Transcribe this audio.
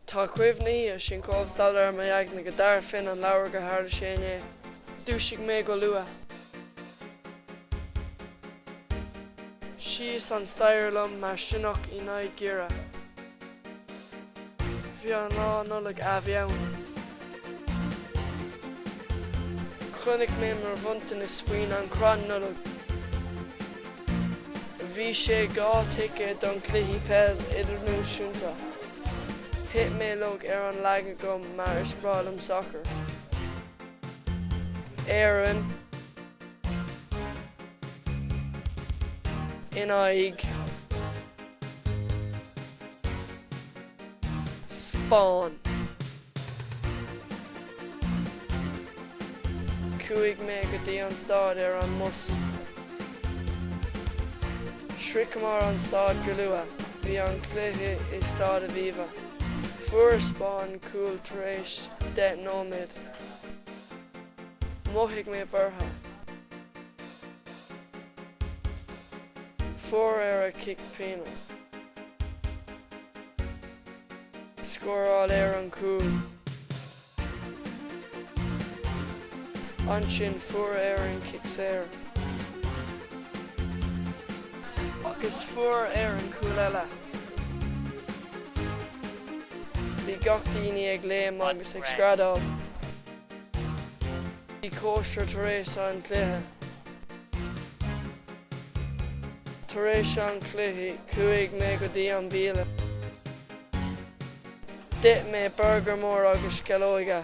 Tá cuimhní air sin chomh soiléir i m'aigne go dtabharfainn an leabhar gur tharla sé inné. Dhúisigh mé go luath. Síos an staighre liom mar sionnach in aghaidh giorria. Bhí an lá Nollag a bhí ann. Chonaic mé mo bhronntanas faoin an chrann Nollag. Bhí sé dhá ticéad don cluichí peil idirnáisiúnta. Thit mé i laige ar an leac agam mar is breá liom sacar. Éirinn. in aghaidh Spáinn. Chuaigh mé go dtí an stáid ar an mbus. Shroicheamar an stáid go luath. Bhí an cluiche i Stáid Aviva. Fuair Spáinn cúl tar éis deich nóiméad. Mhothaigh mé buartha. Fuair Éirinn cic pionóis. Scóráil Éirinn cúl. Ansin fuair Éirinn cic saor. Agus fuair Éirinn cúl eile. Bhí gach daoine ag léim agus ag screadáil. Bhí cóisir tar éis an chluiche. Tar éis an chluiche, chuaigh mé go dtí an bialann. D'ith mé burgar mór agus sceallóga.